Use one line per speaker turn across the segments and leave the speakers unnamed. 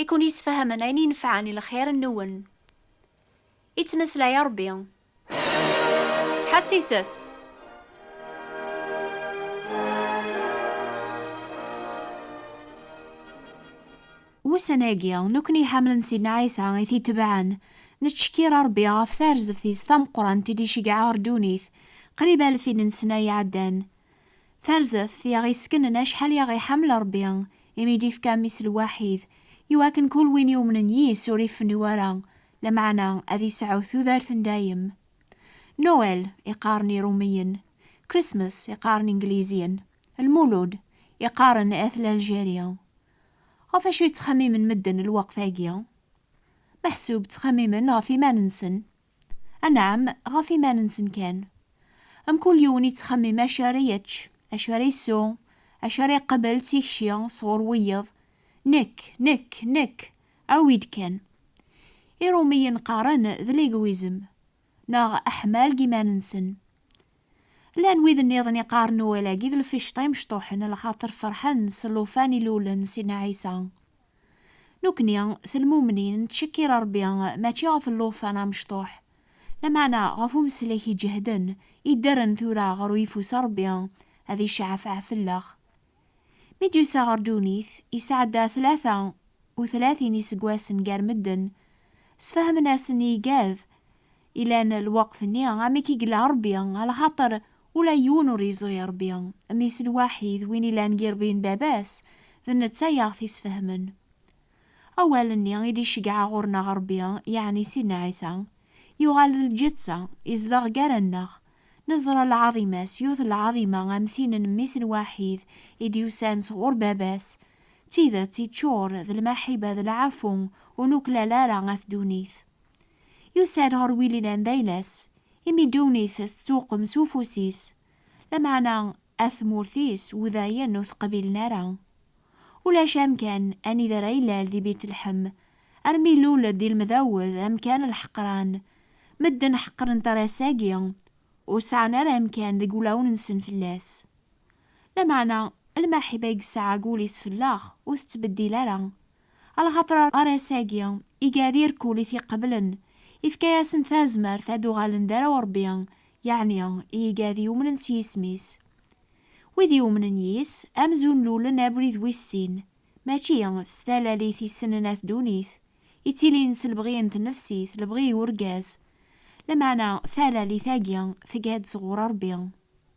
i ken-yesfahamen ayen inefɛen i lxir-nwen. Ittmeslay Ṛebbi. Ḥessiset! Wussan-agi, nekkni iḥamlen Sidna Ɛisa i t-itebɛen, nettcekkir Ṛebbi ɣef tarzeft-is tameqqrant i d-iceggeɛ ɣer ddunit qrib alfin n ssna iɛeddan. Tarzeft i aɣ-iskenen acḥal i aɣ-iḥemmel Ṛebbi, imi i d-ifka Mmi-s lwaḥid, i wakken kul win yumnen yis-s ur ifennu ara, lameɛna ad isɛu tudert n dayem. Noël i qqaren Iṛumiyen, Christmas i qqaren Ingliziyen, Lmulud i qqaren At l'Algérie. Ɣef wacu i ttxemmimen medden lweqt-agi? Meḥsub ttxemmimen ɣef iman-nsen. Anɛam, ɣef iman-nsen kan. Mkul yiwen yettxemmim acu ara yečč, acu ara yessu, acu ara yeqbel d tikci sɣur wiyeḍ, Nekk, nekk, nekk! Awi-d kan! Iṛumiyen qqaren d legwizem, neɣ aḥmal deg yiman-nsen. Llan wid nniḍen iqqaren Noël-agi d lficṭa imecṭuḥen lxaṭer ferḥen s llufan ilulen Sidna Ɛisa. Nukni, s lmumnin, nettcekkir Rebbi mačči ɣef llufan amecṭuḥ, lameɛna ɣef umeslek iǧehden iddren tura ɣer uyeffus n Rebbi ad icceɛfeɛ fell-aɣ. Mi d-yusa ɣer ddunit, yesɛedda tlata u tlatin iseggasen gar medden, sfehmen-asen i igad Ilan lweqt-nni, amek i yella Ṛebbi, alaxaṭer ula yiwen ur yeẓri Ṛebbi, mmi-s lwaḥid, win illan yiṛbi n baba-s, d netta i aɣ-t-isfehmen. Awal-nni i d-iceggeɛ ɣur-neɣ Ṛebbi, yeɛni Sidna Ɛisa, yuɣal d lǧeţţa, izdeɣ gar-aneɣ. Neẓra lɛaḍima-s, yiwet n lɛaḍima am tin n mmi-s lwaḥid i d-yusan sɣur baba-s, d tideţţ, iččur d lmaḥiba d lɛafu, ur nuklal ara ɣef ddunit. Yusa-d ɣer Wililan d ayla-s, imi ddunit tettuqem s ufus-is, lameɛna at tmurt-is udayen ur t-qbilen ara. Ulac amkan anida ara ilal di Bitleḥm, armi ilul-d di Lmdawed amkan lḥeqran, medden ḥeqren tarasa-agi, ur sɛan ara amkan deg wulawen-nsen fell-as. Lameɛna lmaḥiba i yesɛa deg wul-is fell-aɣ ur tettbeddil ara, Alaxaṭer ar ass-agi, i gɛad irkul i t-iqeblen, ifka-yasen tazmert ad uɣalen d arraw n Ṛebbi, yeɛni i igɛad yumnen s yisem-is. Wid yumnen yis, amzun lulen abrid wis sin, mačči s talalit i ssnen at ddunit, ittilin s lebɣi n tnefsit, lebɣi n urgaz. Lameɛna talalit-agi tegɛad sɣur Ṛebbi.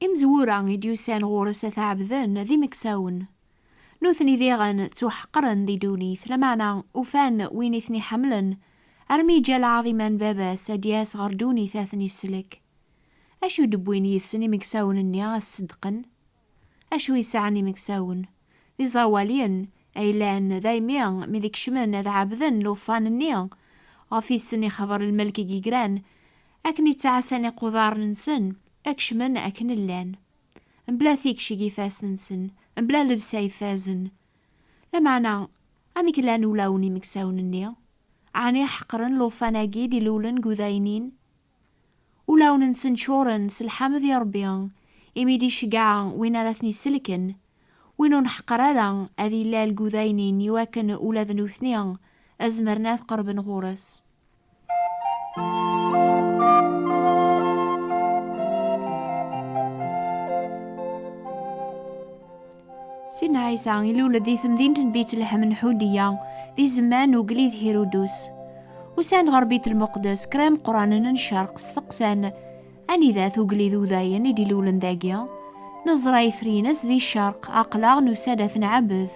Imezwura
i d-yusan ɣur-s ad t-ɛebden d imeksawen. Nutni diɣen ttuḥeqren di ddunit, lameɛna ufan win i ten-iḥemmlen, armi yeǧǧa lɛaḍima n baba-s ad d-yas ɣer ddunit ad ten-isellek. Acu d-wwin yid-sen imeksawen-nni ad ṣeddqen? Acu i sɛan imeksawen? D iẓawaliyen ay llan daymi mi d-kecmen ad ɛebden lufan-nni ɣef i sen-ixeber lmelk i yegran Akken i ttɛassan iquḍaren-nsen, ad kecmen akken llan, mebla tikci deg ifassen-nsen, mebla lebsa ifazen. Lameɛna, amek llan ulawen n yimeksawen-nni? Ɛni ḥeqren llufan-agi d-ilulen deg udaynin? Ulawen-nsen ččuren s lḥamd i Ṛebbi, imi d-iceggeɛ win ara ten-isellken. Win ur nḥeqqer ara ad illal deg udaynin iwakken ula d nutni ad zemren ad qerben ɣur-s. Sin Ɛisa ilul-d di temdint n Bitlehem n Ḥudiya di zzman n ugellid Hirudus. Usan ɣer Bit Lmuqdes kra imeqqranen n ccerq steqsan Anida-t ugellid udayen i d-ilulen dagi? Neẓra itri-ines di ccerq, aqlaɣ nusa-d ad t-nɛebed.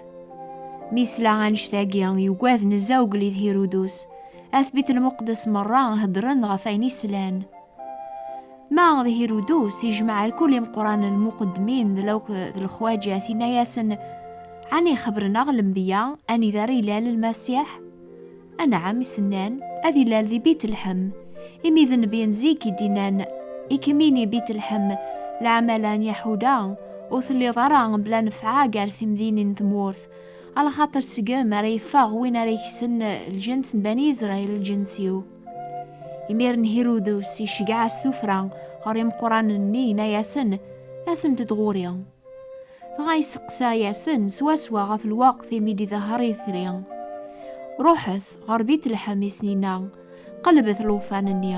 Mi yesla annect-agi, yugad nezza ugellid Hirudus. At Bit Lmuqdes merra heddren ɣef ayen i slan. Ma d Hirudus, yejmeɛ alkul imeqqranen lmuqeddmin d lawk d lexwaǧat, yenna-yasen, Ɛni xebren-aɣ lembiya anida ara ilal Lmasiḥ? Anɛam i s-nnan, Ad ilal di Bitlḥem, imi d nnbi n zik i d-innan, I kem-ini Bitlḥem, leɛmala n Yaḥuda, ur telliḍ ara bla nefɛa gar timdinin n tmurt, alaxaṭer seg-m ara yeffeɣ win ara yekksen lǧens n Bani Israil lǧens-iw. Imiren Hirudus iceggeɛ-as tuffra ɣer imeqqranen-nni, yenna-yasen, Asemt-d ɣur-i. Dɣa yesteqsa-yasen swaswa ɣef lweqt imi d-idehher itri. Ruḥet ɣer Bitleḥem i Sninna, qelbet llufan-nni.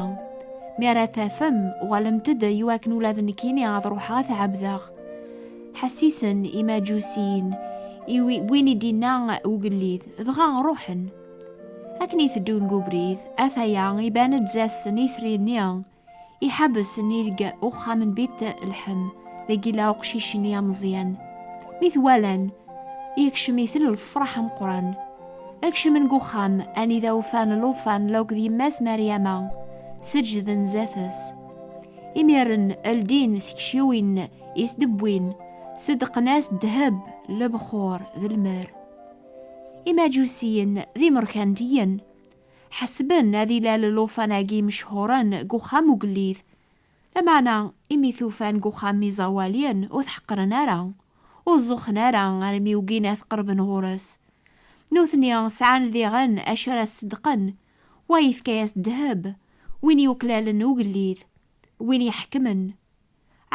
Mi ara tafem, uɣalemt-d i wakken ula d nekkini ad ruḥeɣ ad t-ɛebdeɣ. Ḥessisen Imaǧusiyen i win i d-inna ugellid, dɣa ruḥen. Akken i teddun deg ubrid, ataya iban-d zdat-sen itri-nni. Iḥabes nirg uxxam n Bit Lḥem, dagi la uqcic-nni ameẓyan. Mi t-walan, yekcem-iten lfeṛḥ ameqran. Kecmen deg uxxam, anida ufan Lufan la akked yemma-s Meryama, seǧǧden zdat-s. Imiren, ldin tikciwin i s-d-wwin, ṣeddqen-as ddheb, lebxuṛ d lmer. Imaǧusiyen d imeṛkantiyen. Ḥesben ad ilal llufan-agi mechuren deg uxxam ugellid. Lameɛna, imi t-ufan deg uxxam n iẓawaliyen, ur t-ḥeqqren ara, ur ẓuxxen ara armi ugin ad t-qerben ɣur-s. Nutni sɛan diɣen acu ara ṣeddqen, wa yefka-as ddheb, win yuklalen ugellid, win iḥekmen.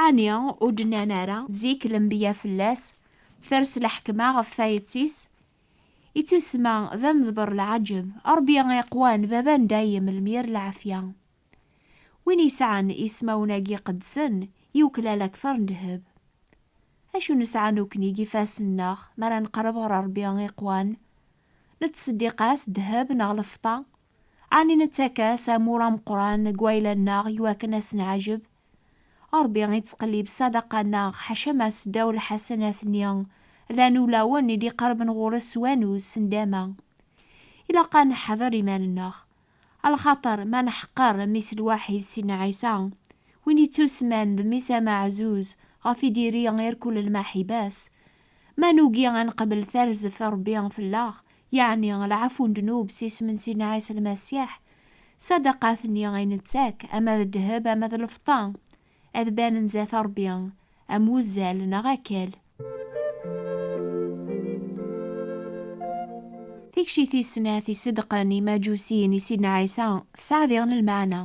Ɛni ur d-nnan ara zik lenbiya fell-as ters lḥekma ɣef tayet-is? Ittusma d amedber lɛaǧeb. Ṛebbi iqwan Baba n dayem lmir lɛafya. Win yesɛan ismawen-agi iqedsen yuklal akteṛ n ddheb. Acu nesɛa nukni deg ifassen-nneɣ mi ara neqreb ɣer Ṛebbi iqwan? Nettseddiq-as ddheb neɣ lfeṭṭa? Ɛni nettak-as amur ameqran deg wayla-nneɣ iwakken ad s-nɛaǧeb Ṛebbi iţqellib ssadaqa-nneɣ, ḥaca ma seddaw lḥasanat-nni, llan ulawen i d-iqerrben ɣur-es s wanuz, s nndama. Ilaq a neḥder iman-nneɣ. Alxaṭer ma neḥqer Mmi-s lwaḥid Sidna Ɛisa, win ittusemman d Mmi-s ameɛzuz ɣef i d-iri irkul lmaḥiba-s, Ma nugi a neqbel tarzeft Rebbi fell-aɣ, yeɛni lɛafu n ddnub s isem-nsen n Ɛisa Lmasiḥ, ṣṣadaqat-nni ay nettak, ama d ddheb ama d lfeṭṭa, ad banen zdat Rebbi am wuzzal neɣ akal. Tikci tis snat i ṣeddqen yimaǧusiyen i Sidna Ɛisa tesɛa diɣen lmeɛna.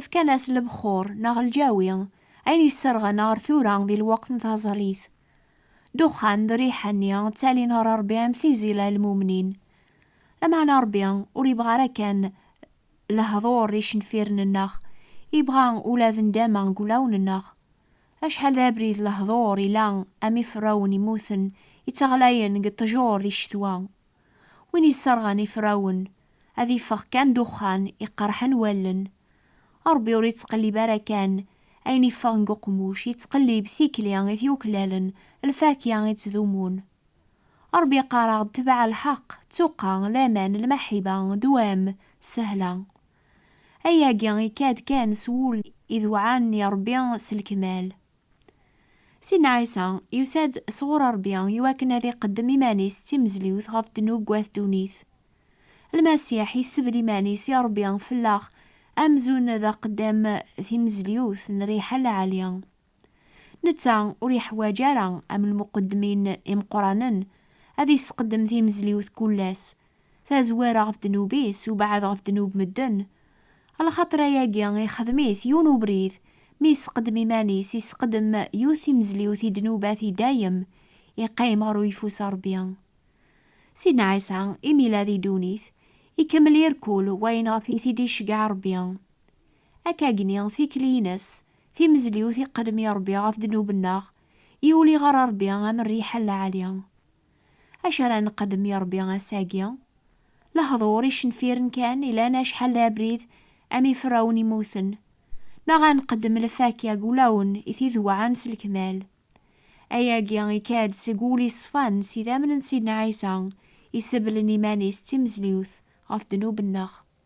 Fkan-as lebxur, neɣ lǧawi, ayen yesserɣen ɣer tura di lweqt n taẓallit, Duxxan d riḥa-nni ttalin ɣer Ṛebbi am tizila n lmumnin. Lameɛna Ṛebbi ur yebɣa ara kan lehḍur d icenfiren-nneɣ, yebɣa ula d nndama deg wulawen-nneɣ. Acḥal d abrid lehḍur ila am iferrawen immuten yettaɣlayen deg ṭṭjur di ccetwa, Win yesserɣen ifrawen, ad iffeɣ kan duxxan iqerḥen wallen. Rebbi ur ittqellib ara kan ayen iffeɣ deg uqmuc, yettqellib tikli i t-yuklalen, lfakya i ttdumun. Rebbi iqqar-aɣ-d tebɛa lḥeqq, ttuqqa, laman, lmaḥiba, dewam, ssehla. Ayagi ikad kan s wul idewɛan i Rebbi s lekmal. Sidna Ɛisa yusa-d sɣur Ṛebbi i wakken ad iqeddem iman-is d timezliwt ɣef ddnub wat ddunit. Lmasiḥ yessebl iman-is i Ṛebbi fell-aɣ amzun d aqeddam timezliwt n rriḥa lɛali. Netta ur iḥwaǧ ara am lmuqeddmin imeqqranen ad isqeddem timezliwt kul ass tazwara ɣef ddnub-is ubeɛɛed ɣef ddnub medden, lxaṭer ayagi ixdem-it yiwen ubrid mi yesqeddem iman-is, yesqeddem yiwet timezliwt i ddnubat i dayem, iqqim ɣer uyeffus n Rebbi. Sidna Ɛisa, imi yella di ddunit, ikemmel irkul wayen ɣef i t-id-iceggeɛ Rebbi. Akkagni, tikli-ines, timezliwt iqqeddem i Rebbi ɣef ddnub-nneɣ, yuli ɣer Rebbi am rriḥa n lɛali. Acu ara nqeddem i Ṛebbi ass-agi? Lehduṛ icenfiren kan ilan acḥal d abrid am iferrawen immuten, neɣ ad nqeddem lfakya deg wulawen i t-id-wɛan s lekmal? Ayagi ikka-d seg wul iṣfan s idammen n Sidna Ɛisa, isebblen iman-is d timezliwt ɣef ddnub-nneɣ.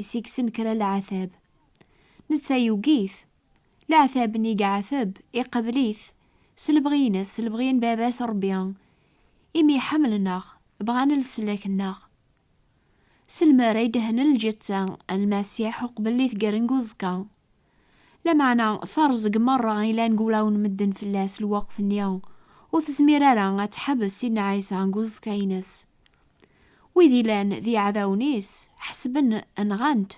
i s-yekksen kra leɛtab. Netta yugi-t. Leɛtab-nni i iɛateb, iqabel-it, s lebɣi-ines, s lebɣi n Baba-s Ṛebbi, imi ḥemmlen-aɣ, bɣan leslak-nneɣ. S lmer ay d-hnan lǧetta n Lmasiḥ uqbel i tger n uẓekka, Lameɛna terẓeg merra i lan gulawen medden fell-as lweqt-nni, ur tezmir ara ad teḥbes Sidna Ɛisa deg uẓekka-ines. Wid ilan d iɛdawen-is ḥesben nɣan-t,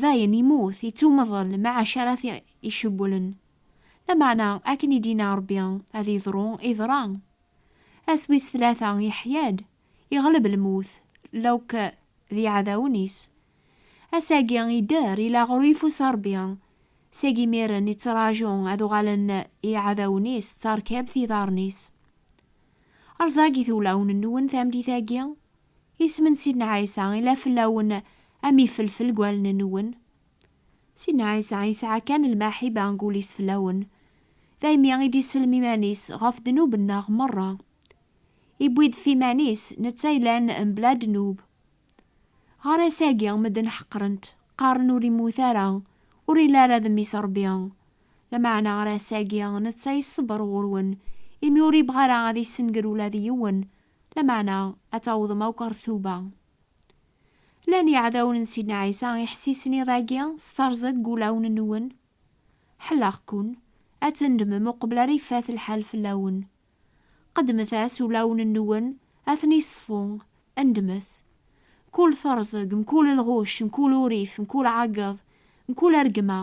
dayen immut, ittumḍel maɛac ara t-icewwlen. Lameɛna akken i d-yenna Rebbi ad yeḍru, iḍra. Ass wis tlata yeḥya-d, iɣleb lmut, lawk d iɛdawen-is Ass-agi idder i laɣru ifus Ṛebbi, seg imiren ittraǧu ad uɣalen iɛdawen-is d tarkabt i iḍarren-is. Rẓagit ulawen-nwen tameddit-agi, isem n Sidna Ɛisa ila fell-awen am ifelfel deg wallen-nwen. Sidna Ɛisa yesɛa kan lmaḥiba deg wul-is fell-awen, daymi i d-isellem iman-is ɣef ddnub-nneɣ meṛṛa. Iwwi-d ɣef iman-is netta yellan mebla ddnub, Ɣer ass-agi, medden ḥeqren-t, qqaren ur immut ara, ur illi ara d Mmi-s Rebbi. Lameɛna ɣer ass-agi, netta iṣebber ɣur-wen, imi ur ibɣi ara ad issenger ula d yiwen, lameɛna ad tawḍem akk ɣer tuba. Llan yiɛdawen n Sidna Ɛisa iḥessisen iḍ-agi s terẓi deg wulawen-nwen? Ḥelleɣ-ken ad tendemem uqbel ara ifat lḥal fell-awen. Qeddmet-as ulawen-nwen ad ten-iṣfu, ndmet. Mkul terzeg, mkul lɣucc, mkul urrif, mkul ɛeggeḍ, mkul argma,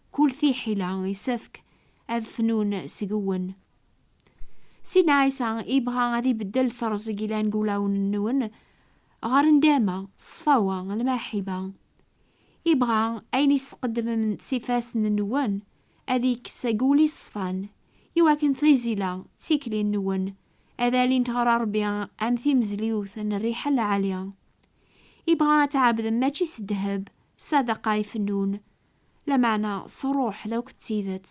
mkul tiḥila isefk ad fnun seg-wen. Sidna Ɛisa ibɣa ad ibeddel terzeg ilan deg ulawen-nwen ɣer ndama, ṣṣfawa, lmaḥiba. Ibɣa ayen i tesqeddmem s ifassen-nwen ad ikkes agul iṣfan, i wakken tizila d tikli nwen ad alint ɣer Rebbi am timezliwt n rriḥa lɛali. Ibɣa ad tɛebdem mačči s ddheb, ssadaqa ifennun, lameɛna s rruḥ d akk d tidet.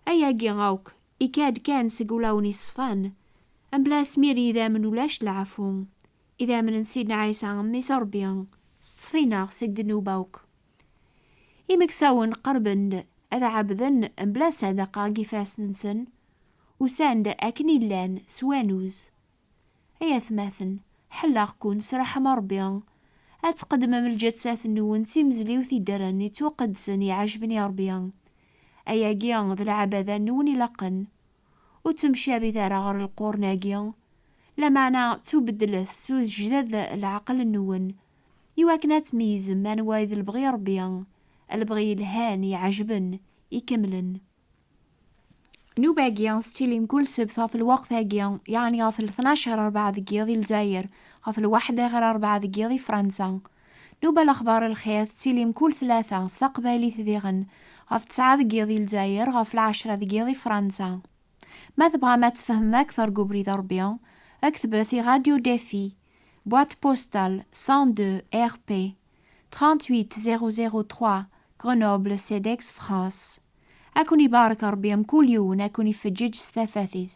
Ayagi akk ikka-d kan seg ulawen iṣfan, mebla asmir n yidammen ulac leɛfu, idammen n Sidna Ɛisa Mmi-s n Rebbi s ttfinaɣ seg ddnub akk. Imeksawen qerben-d ad ɛebden mebla ssadaqa deg ifassen-nsen, usan-d akken i llan s wanuz. Ay atmaten, ḥelleɣ-ken s ṛṛeḥma n Ṛebbi, ad tqeddmem lǧassat-nwen d timezliwt i ddren yettwaqeddsen iɛejben i Ṛebbi. Ayagi d lɛebada-nwen ilaqen. Ur ttemcabit ara ɣer lqurn-agi, lameɛna ttubeddlet s ujejdad n leɛqel-nwen, i wakken ad tmeyyzem anwa i d lebɣi Rebbi, lebɣi yelhan, iɛejben, ikemlen. Nnuba-agi tettilim kul sebt ɣef lweqt-agi, yeɛni ɣef lṭnac ɣer rebɛa deg yiḍ i Lezzayer, ɣef lwaḥda ɣer rebɛa deg yiḍ i Fransa. Nnuba Lexbar Lxir tettilim kul tlata, s taqbaylit diɣen, ɣef ttɛa deg yiḍ i Lezzayer, ɣef lɛecra deg yiḍ i Fransa. Ma tebɣam ad tfehmem ad k-tergu ubrid Rebbi, ktbet iRadio Defi, Boîte postale 102 RP 38003 Grenoble Cedex France Ad ken ibarek Rebbi mkul yiwen ad ken ifeǧǧeǧ s tafat-is.